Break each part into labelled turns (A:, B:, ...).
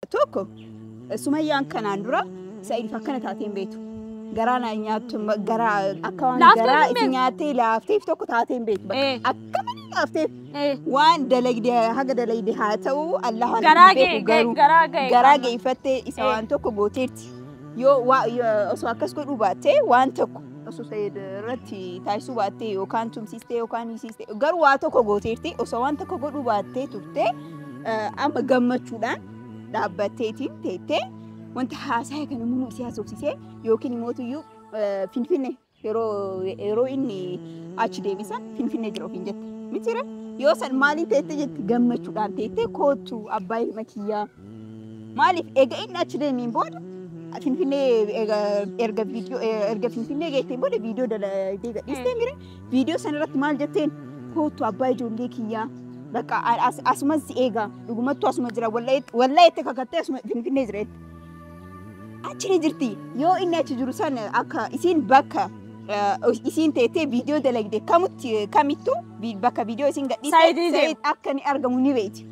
A: Tokko sumayyaan kanaan dura sa'iidif akkana taateen beektu. Garaa naa nyaattu garaa akka waan Laaftee garaa hin itti beektu. nyaattee laafteef tokko taateen beektu. Eh. Bakka akka malee laafteef Eh, waan dalagde haga dalagde haa ta'u Allah waan Garaa hin beeku ga'e- garuu garaa ga'e garaa qaama. geeffattee isa Eh. waan tokko gooteerti. Yoo waa- yoo- osoo akkas godhuu baattee waan tokko osoo Said irratti taasisuu baattee yookaan tumsiistee yookaan hiisiistee garuu waa tokko gooteerti osoo waan tokko godhuu baattee turte eh, amma gammachuudhaan dhaabbatteetiin teettee wanta haasaa kana immoo si haasofsiisee yookiin immoo tuyyuu eh, finfinne yeroo yeroo inni achi deebisan finfinne jira ofiin jette mitiire yoo san maaliin teette jette gammachuudhaan teettee koottu abbaa ilma kiyyaa Maaliif egaa inni achi deemiin booda Finfinnee erga viidiyoo erga Finfinnee geetteen booda viidiyoo dalagdee gadhiistee mire viidiyoo sana irratti maal jetteen kootu abbaa ijoollee kiyyaa bakka asumas si eegaa dhugumattu asuma jira wallaa itti kakattee asuma Finfinnee jira itti. Achi ni jirti yoo inni achi jiru sana akka isiin bakka isiin teettee viidiyoo dalagde kamutti kamittuu bakka viidiyoo isiin gadhiistee akka ni argamu ni beekti.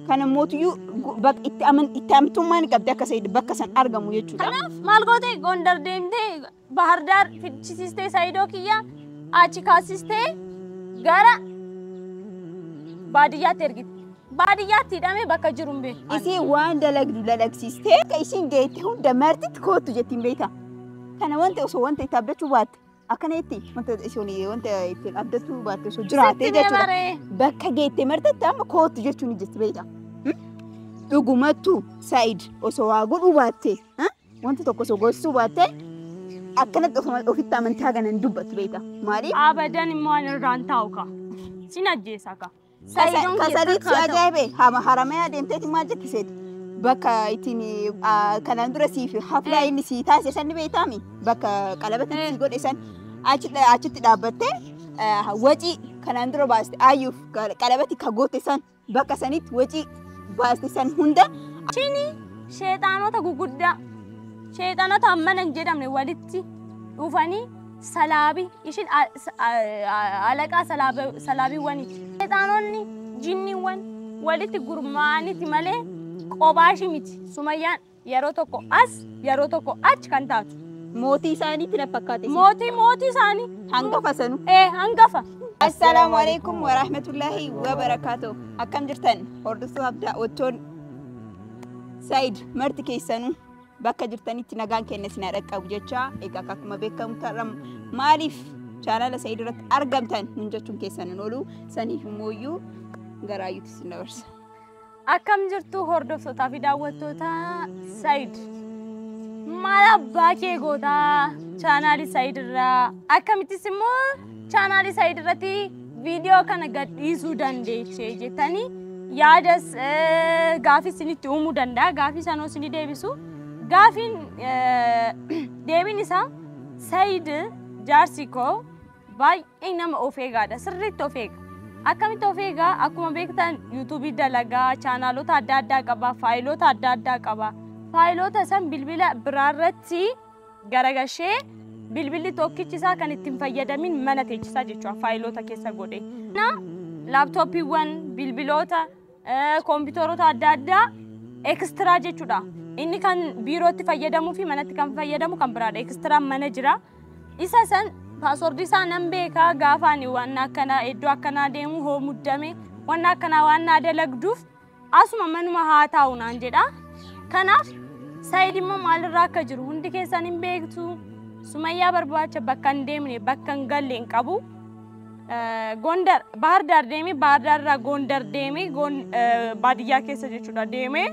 A: Kan ammootiyyuu gu- bak- itti aman- itti amtummaan qabdi akka Said bakka san argamu jechuudha. Kanaaf maal goote
B: Gondar deemtee Bahar Daar fichisiistee Saayidoo kiyya achi kaasistee gara baadiyyaatti ergite. Baadiyyaatti hidhamee bakka jiru hin beeku. Isii waan dalagdu
A: dalagsiistee akka isiin geette hunda martitti koottu jettiin beekta. Kana wanta osoo wanta itti abdachuu baatte Akkana itti wanta isheen wanta ittiin abdattuu baatte osoo jiraatee jechuudha. Bakka geettee martetti amma kootu jechuun hojjetti beekta. Dhugumattu Saayid osoo waa godhuu baatte wanta tokko osoo gorsuu baatte akkanatti ofitti amantaa ganan dubbatu beekta. Maaliif? Abadan immoo ani
B: irraan taa'u ka. Sin ajjeesa ka. Sayidoon keessaa Kasanitti
A: kaata. ajaa'ibe hama haramee adeemteeti maal jetti seeti? Bakka ittiin ah, kanaan dura siif haflaa inni sii taasise san ni beektaami? Bakka qalabatti Eh. sii godhe san achi dha- achitti dhaabbattee ah, wacii kanaan dura baaste ayyuuf qa- qalabatti ka goote san bakka sanitti wacii baaste san hunda Chini
B: sheexaanota guguddaa sheexaanota hammana hin jedhamne walitti dhufanii Salaabi, ishin a- s- a- a- alaqaa salaaba- salaabiiwwaniiti. Seexaanonni jinniiwwan walitti gurmaa'aniti malee qophaa ishii miti. Sumayyaan yeroo tokko as yeroo tokko achi kan taatu. Mootii isaaniitti
A: na fakkaate. Mootii mootii isaanii
B: Hangafa sanuu.
A: ee hangafa.
B: Assalaamu
A: alaikum wa rahmatullahi wa barakaatu. Akkam jirtan hordoftoota abdaa ottoon Said marti keessanuu. bakka jirtanitti nagaan keenya isin haa dhaqqabu jechaa egaa akka akkuma beekamu tarra maaliif chaanala sa'ii duratti argamtan nun jechuun keessan hin oolu saniif immoo iyyuu garaayyuutti isin dabarsa. Akkam
B: jirtu hordoftootaa fi daawwattoota Said. Maal abbaa kee gootaa chaanaalii Said irraa akkamittis immoo chaanaalii Said irratti viidiyoo kana gadhiisuu dandeeche jettanii yaadas eh, gaafii isinitti uumuu danda'a. Gaafii sanoo isinii deebisu. Gaafiin eh, deebiin isaa Sayid jaarsi koo baay'ee nama of eegaadha. Sirriitti of eega. Akkamitti of eegaa? Akkuma beektan yuutuubii dalagaa, chaanaalota adda addaa qaba, faayiloota adda addaa qaba. Faayiloota san bilbila biraarratti garagashee bilbilli tokkichi isaa kan ittiin fayyadamin mana teechisaa jechuudha faayiloota keessa godhe. Na laaptooppiiwwan, bilbiloota, eh, koompitaroota adda addaa ekstiraa jechuudha. Inni kan biirootti fayyadamuu fi manatti kan fayyadamu kan biraadha. Ekstiraa mana jira. Isa san paaswordii isaa nan beekaa gaafa ani waan akkanaa iddoo akkanaa deemu hoo muddame waan akkanaa waan naa dalagduuf Asuma manuma haa taa'u naan jedha. Kanaaf Said immoo maalirraa akka jiru hundi keessan hin beektu. Sumayyaa barbaacha bakka hin deemne bakka hin galle hin qabu. Eh, Gondar Bahar Daar deemee Bahar Daar irraa Gondar deemee Gon- eh, baadiyyaa keessa jechuudha deemee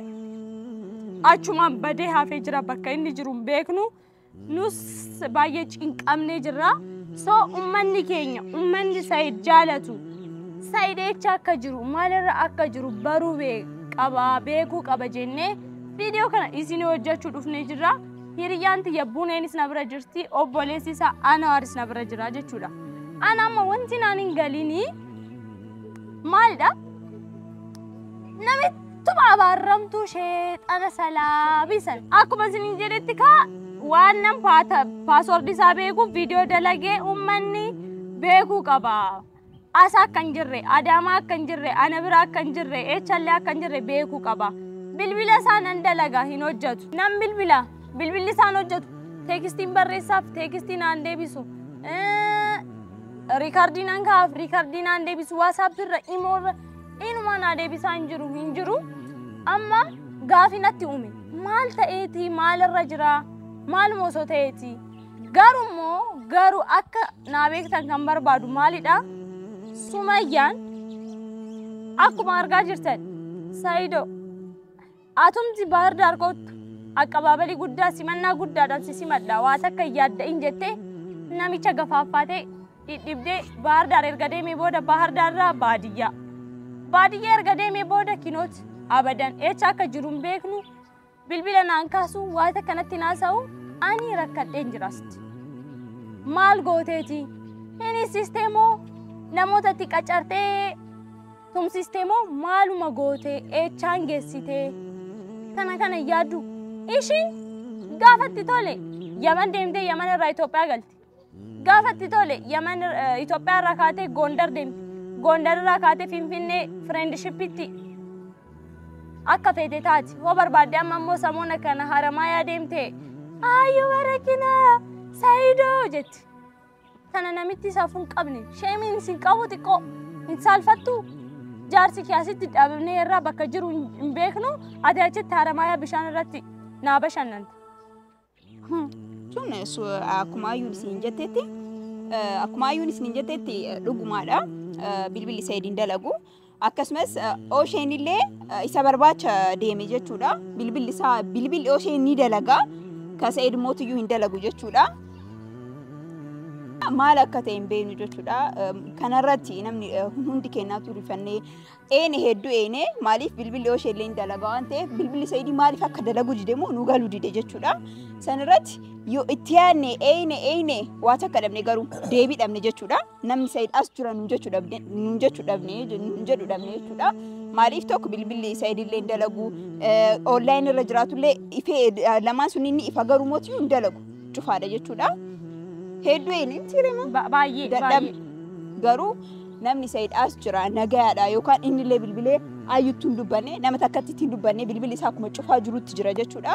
B: achumaan badee hafee jira bakka inni jiru hin beeknu. nus baay'ee cinqamnee jirra. So ummanni keenya ummanni Said jaalatu Said eecha akka jiru maalirra akka jiru baruu bee- qaba beekuu qaba jennee viidiyoo kana isin hojjechuu dhufnee jirra. Hiriyyaan tiyya Buneenis na bira jirti obboleessi isaa Anawaaris na bira jira jechuudha. Ana amma wanti naan hin galinii maalidha? Namichi Tuma abaarramtuu sheexana salaabii san. Akkuma isiniin jedhetti kaa waan nan paata paaswoordi isaa beekuuf viidiyoo dalagee uummanni beekuu qaba. Asa akka hin jirre, Adaamaa akka hin jirre, ana bira akka hin jirre, eechallee akka hin jirre beekuu qaba. Bilbila isaa nan dalaga hin hojjetu. Nan bilbila bilbilli isaan hojjetu. Teekistiin barreessaaf teekistii naan deebisu. Eh, Riikardii nan kaa'aaf riikardii naan deebisu. Waasaappi irra imoo irra Inumaa naa deebisaa hin jiru hin jiru amma gaafii natti uume maal ta'eeti maalirra jira maaluma osoo ta'eeti garuu immoo garuu akka naa beektan kan barbaadu maalidha sumayyaan akkuma argaa jirtan sayido Atumti Baahir Daar koottu aqqabaabalii guddaa simannaa guddaadhaan si simadha waa takka hin yaadda'in jettee namicha gafaaffaatee dhidhibdee Baahir Daar erga deemee booda Baahir Daar irraa baadiyyaa. Baadiyyaa erga deemee booda kinoot abadan eecha akka jiru hin beeknu bilbila naan kaasu waa takka natti naasa'u ani rakkadheen jiraasti. Maal gooteeti? Hin hissistee moo namootatti qacartee tumsistee moo maaluma gootee eechaan geessitee kana kana yaaddu ishiin gaafatti tole yaman deemtee yaman irraa Itoophiyaa galti gaafatti tole yaman Itoophiyaa irraa kaatee Gondar deemti Gondar irraa kaatee Finfinnee fireendishippitti akka feete taati hoo barbaadde amma immoo samoona kana haramaayaa deemtee ayyuu barakinaa saayidoo jetti Tana namitti safuu hin qabne. Sheemiin isin qabu xiqqoo hin saalfattuu? Jaarsi kee asitti dhabamnee irraa bakka jiru hin hin beeknu ati achitti haramaayaa bishaan irratti naa bashannanta.
A: Tun su- akkuma ayyuun isin jettetti eh, akkuma ayyuun isin jettetti eh, dhugumaadha. Eh, Bilbilli Said hin dalagu. Akkasumas Osheen illee isa barbaacha deeme jechuudha. Bilbilli isaa bilbilli Osheen ni dalaga. Kan Sa'id mootiyyuu hin dalagu jechuudha. Maal akka ta'e hin beeknu jechuudha. Kanarratti namni hundi kennaa turifannee eene hedduu eene maaliif bilbilli Osheen illee hin dalaga waan ta'eef bilbilli Sa'id maaliif akka dalagu dide moo nu galu dide jechuudha. Sanarratti yoo itti yaadne eeyne eeyne waa takka dhabne garuu deebii dhabne jechuudha. namni Said as jira nuun jechu dhabne nuun jechu dhabne nuun jedhu dhabne jechuudha. Maaliif tokko bilbilli Said illee hin dalagu online irra jiraatu illee ifee lamaan sun inni ifa garuu mootii hin dalagu cufaadha jechuudha. Hedduu inni sirema Ba- Baay'ee
B: dadhabne baay'ee. garuu
A: namni Said as jira nagayaadha yookaan inni illee bilbilee ayyutti hin dubbanne nama takkatti hin dubbanne bilbilli isaa akkuma cufaa jirutti jira jechuudha.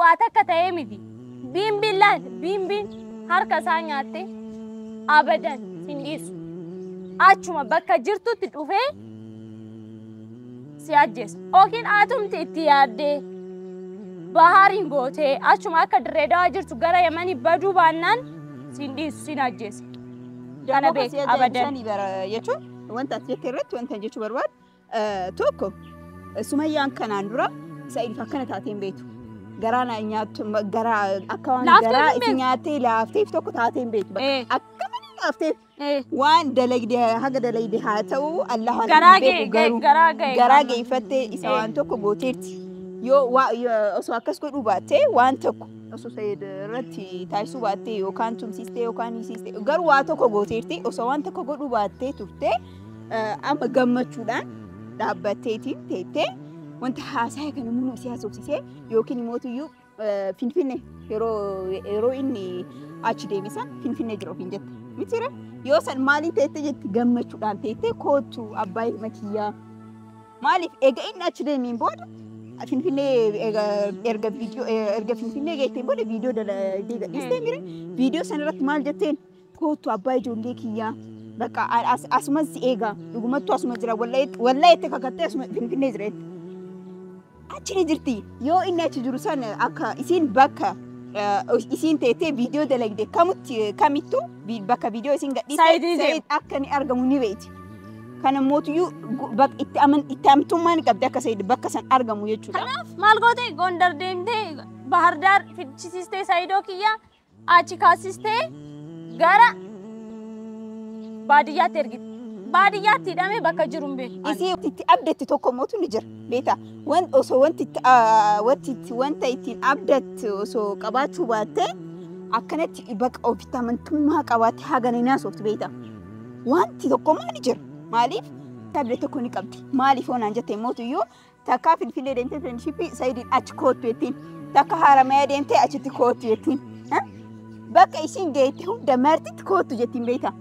B: Waa takka ta'ee miti. Biimbiin laal! Biimbiin harka isaa nyaattee abadan hin dhiisu. Achuma bakka jirtutti dhufee si ajjeesa. Yookiin atumti itti yaaddee bahaariin gootee achuma akka dirree dawaa jirtu gara yamanii baduu baannaan siin dhiisu siin ajjeesa. Kana Dammoo kan beek si ajaa'ibu abadan. sani bara jechuun
A: wanta ati jette irratti wanta jechuu barbaadu Tokko Sumayyaan kanaan dura Sa'idiif akkana taatee hin beektu. Garaa na nyaattu garaa akka waan Laaftee garaa hin itti nyaattee laafteef tokko taatee hin beektu. Eh. Akka malee laafteef Eh, waan dalagde haga dalagde haa ta'u Allah waan Garaa hin ga'e, beeku ga'e, garuu garaa ga'e. garaa geeffattee isa Eh. waan tokko gooteerti. Yoo waa- yoo- osoo akkas godhuu baattee waan tokko osoo Sa'id irratti taasisuu baattee yookaan tumsiistee yookaan hiisiistee garuu waa tokko gooteerti osoo waan tokko godhuu baattee turtee Amma gammachuudhaan dhaabbatteetiin teettee wanta haasaya kana muruu si haasofsisee yookiin immoo tuyyuu finfinne yeroo inni achi deebisan finfinne jira ofiin jette. Mitiire yoo san maaliin teettee jetti gammachuudhaan teettee koottu abbaa ilma kiyyaa. Maaliif egaa inni achi deemiin booda finfinnee erga viidiyoo erga finfinnee geetteen booda viidiyoo deegadhiistee mire viidiyoo sanarratti maal jetteen Koottu abbaa ijoollee kiyyaa. Bakka a- as- asuman si eega. Dhugumattuu asuma jira. Wallahi wallahi itti kakattee asuma finfinnee jira itti. Achi ni jirti. Yoo inni achi jiru san akka isiin bakka eh, isiin teettee viidiyoo dalagde kamutti kamittu vi- bakka viidiyoo isiin gadhiiste Saayidii deema. Saayid akka inni argamu ni beekti. Kana mootiyyuu gu- bak- itti aman- itti amantummaan qabdi akka Saayid bakka san argamu jechuudha. Kanaaf maal goote
B: Gondar deemtee Bahardaar fichisiistee Saayidoo kiyya Achi kaasistee gara baadiyyaatti ergite. Baadiyyaatti hidhamee bakka jiru hin beeku. Ani. Isii itti abdatti
A: tokko mootu ni jira. Beektaa? Wan osoo wanti itti aa, wanti itti wanta ittiin abdattu osoo qabaachuu baattee akkanatti baqa ofitti amantummaa qabaattee hagana hin haasoftu beektaa? Wanti tokko immoo ni jira. Maaliif? Abda tokko ni qabdi. Maaliif yoo naan jette mootu iyyuu Takka Finfinnee deemtee Friendshipii Sayidiin achi koottu jettiin. Takka Haramaya deemtee achitti koottu jettiin. Ha? Bakka isiin geette hunda martitti koottu jettiin beektaa.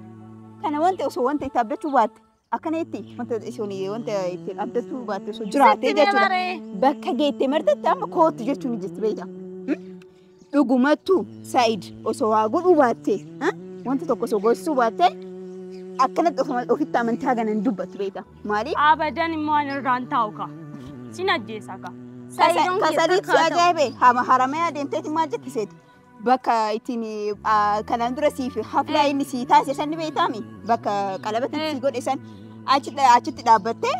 A: Kana wanti osoo wanta itti abdachuu baatte akkana jetti wanta isoon wanta itti abdachuu baatte osoo jiraattee jechuudha. Bakka geette martitti amma koottu jechuun ni jirti beektaa. Dhugumattu Said osoo waa godhuu baatte wanta tokko osoo gorsuu baatte akkanatti ofitti amantaa gana hin dubbattu beekta. Maaliif? Abadan immoo ani
B: irraan taa'u ka. Sin ajjeesa ka. Kasaliit si
A: ajaa'ibe hama haramee adeemteeti maal jetti seeti? Bakka ittiin kanaan dura siif haflaa inni sii taasise san ni beektaami? Bakka qalabatti sii godhe san achitti dhaabbattee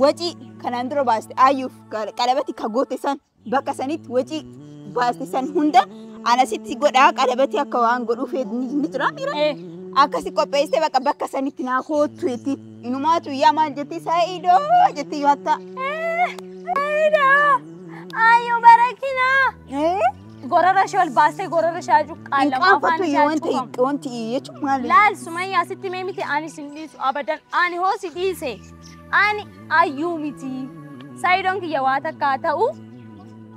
A: wacii kanaan dura baaste ayyuuf qalabatti ka goote san Bakka sanitti wacii baasti san hunda ana sitti godhaa qalabatii akka waan godhuu feetu ni ni jira miira. Eh. Akkasi qopheessee bakka bakka sanitti naa koottu jetti. Inumaatu yaa maal jetti saayidoo jetti yoo hattaa. Saida!
B: Ayo barakina! Eh? Gorora ishee ol baastee gorora ishee Hin cuqqaalamu afaan qaanfattu ishee yoo wanta cuqqamu. wanti jechuun
A: maali? Laal Sumayyaa sitti
B: mee miti ani sin dhiisu abadan ani hoo si dhiise. Ani ayyuu miti. Saayidoon kiyya waa takka haa ta'u.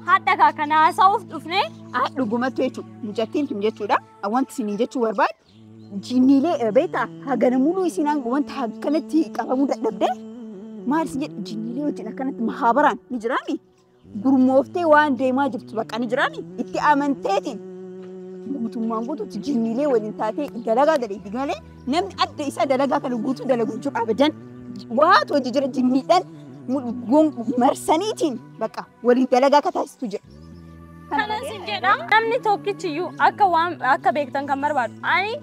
B: Hadha kaa kana haasa'uuf dhufne. Ah, dhugumattu
A: jechuudha. Mucattiin tun jechuudha. Wanti isiniin jechuu barbaadu jinniilee beektaa hagana muluu isiin hanga wanta akkanatti qabamuu dadhabde maal isin jedhu jinniilee wajjin akkanatti mahaabaraan ni jiraami. gurmooftee waan deemaa jirtu bakka ni jiraan itti amanteetiin guutummaan guutuutti jinniilee waliin taatee dalagaa daleetti malee namni adda isaa dalagaa kana guutuu dalaguun jiru abadan waatu hojii jira jinniidhaan marsaniitiin bakka waliin dalagaa akka taasistu jira. Kanan sin
B: jedha namni tokkichi iyyuu akka waan akka beektan kan barbaadu ani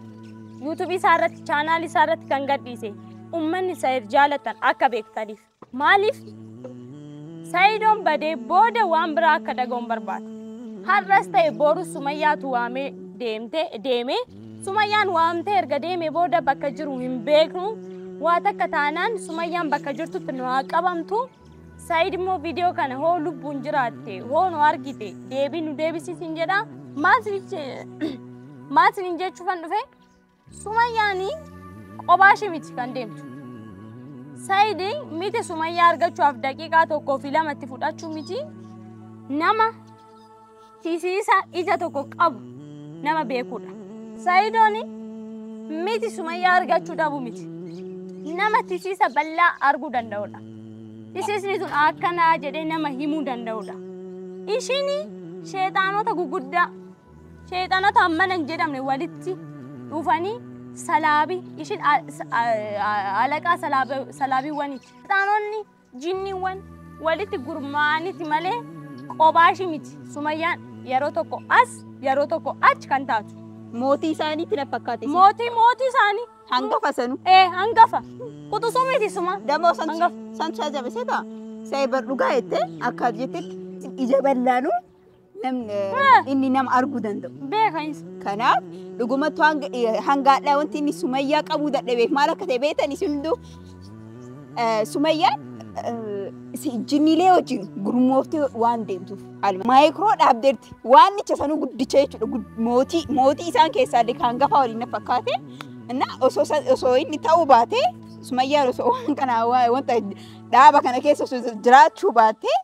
B: yuutuubii isaa irratti chaanaal isaa irratti kan gadhiise uummanni isa jaalatan akka beektaniif. Maaliif? Sa'iidoon badee booda waan biraa akka dhaga'un barbaada. Har'as ta'e boru Sumayyaatu waamee deemte deeme. Sumayyaan waamtee erga deeme booda bakka jiru hin beeknu. Waa takka taanaan Sumayyaan bakka jirtutti nu haa qabamtu. Sa'iid immoo viidiyoo kana hoo lubbuun jiraatte hoo nu argite deebii nu deebisiisin jedha. Maal siniin jechuufan dhufe? Sumayyaani qobaa ishii miti kan deemtu. Sayidi miti sumayyaa argachuudhaaf daqiiqaa tokkoo fi lama itti fudhachuu miti nama hisiisa ija tokko qabu nama beekudha. Sayidooni miti sumayyaa argachuu dhabu miti nama tisiisa bal'aa arguu danda'udha. Tisiisni sun akkanaa jedhee nama himuu danda'udha. Ishiin sheexaanota guguddaa Sheexanota hammana hin jedhamne walitti dhufanii salaabi ishin alaqaa salaabiiwwaniiti. Sheexanonni jinniiwwan walitti gurmaa'aniti malee qobaashi miti. Sumayyaan yeroo tokko as yeroo tokko achi kan taatu. Mootii isaaniitti
A: na fakkaate. Mootii mootii isaanii.
B: Hangafa sanu.
A: Ee hangafa.
B: Quxusuu miti suma. Damoo san san
A: saa jabisee taa. Saa ebar dhugaa jettee akka jettetti ija ballaanuu Namni inni nama arguu danda'u. Beeka insa. Kanaaf dhugumatti hanga eh, hanga hadhaa wanti inni sumayyaa qabuu dadhabeef maal akka ta'e beektan isin hunduu eh, sumayyaan eh, si- jinniilee wajjin gurmooftee waan deemtuuf haaluma maayikiroo dhaabdeerti waan nicha sanuu guddicha jechuudha gud- mootii mootii isaan keessaa illee kan gafaa waliin na fakkaate na osoo sa- osoo inni ta'uu baatee sumayyaan osoo waan kana waa- wanta dhaaba kana keessa osoo jiraachuu baatee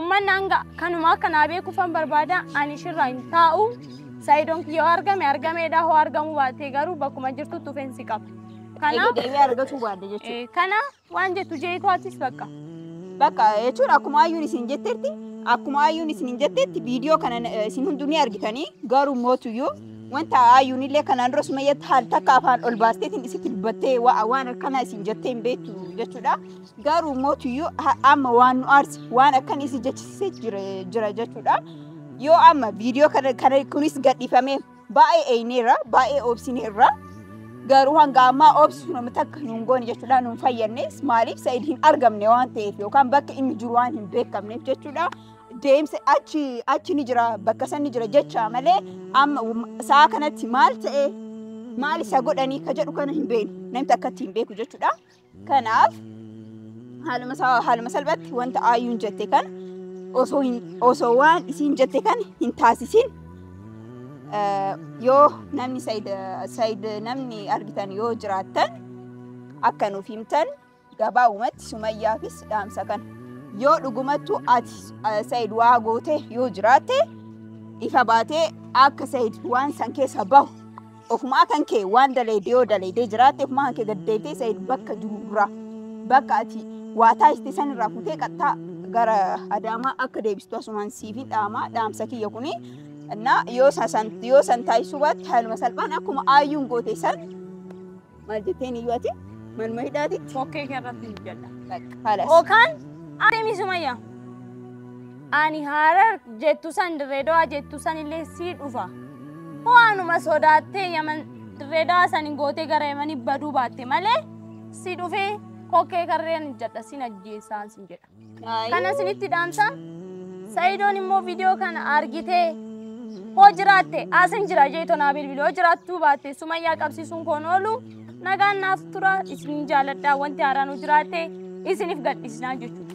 B: Ummanni hanga kanuma akka naa beekuufan barbaada ani shirraa hin taa'u. Saayidoon kiyya yoo argame argameedha hoo argamuu baatee garuu bakkuma jirtutti ofeensi qaba. Kana Deebi'ee
A: argatuu baadde jechuudha. eh, kana waan
B: jettu
A: jeetu
B: atis
A: bakka. Bakka
B: jechuun
A: akkuma
B: ayyuun isin
A: jettetti akkuma ayyuun isin jettetti viidiyoo kana eh, isin hunduu ni argitanii garuu mootuyyuu wanta ayyuun illee kanaan dura sumayyatti haal takka afaan ol baasteetiin isitti dubbattee waa- waan akkanaa isin jettee hin beektu jechuudha. Garuu mootiyyuu amma waan nu aarse waan akkan isi jechisisee jira jechuudha. Yoo amma viidiyoo kana kana kunis gadhiifamee baay'ee eeyneerra baay'ee obsineerra. Garuu hanga ammaa obsuun amma takka nuun goone jechuudha nuun fayyadnes maaliif sa'id hin argamne waan ta'eef yookaan bakka inni jiru waan hin beekamneef jechuudha. Deemsa achi achi ni jira bakka san ni jira jecha malee amma sa'a kanatti maal ta'e maal isa godhanii ka jedhu kana hin beeknu namni akkatti hin beeku jechuudha. Kanaaf haaluma isaa haaluma salphatti wanta ayyuun jette kan osoo hin osoo waan isiin jette kan hin taasisin eh, yoo namni sayid sayid namni argitan yoo jiraattan akka nuuf himtan gabaabumatti sumayyaafis dhaamsa kan yoo dhugumattu ati eh, sayid waa goote yoo jiraatte ifa baatee akka sayid waan san keessa bahu Ofumaa kan kee waan daleedee yoo daleedee jiraatte ofumaa kan kee gad deebitee Said bakka jiru dura bakka ati waa taasiste san irraa futee qaxxaa gara Adaamaa akka deebistu asumaan siifin dhaamaa dhaamsa kiyya kuni. Innaa yoo san yoo san taasisuu baatte haaluma salphaan akkuma aayyuun goote san Maal jetteen iyyuu ati manuma hidhaati. Kokkee kee irratti hin jedha.
B: Halas. Okaan adeemi sumayya. Ani harar jettu san dirreedawaa jettu san illee sii dhufa. Waanuma sodaattee yaman dirreedawaa san hin gootee gara yamanii baduu baatte malee si dhufee kokkee karreen hin jedha sin ajjeessaan sin jedha. kana isinitti dhaamsa sa'idoon immoo viidiyoo kana argitee hoo jiraatte asin jira jeeto naa bilbili hoo jiraattuu baatte sumayyaa qabsiisuun koon oolu nagaan naaf tura isin jaaladhaa wanti haaraan hoo jiraatte isiniif gadhiisnaa jechuudha.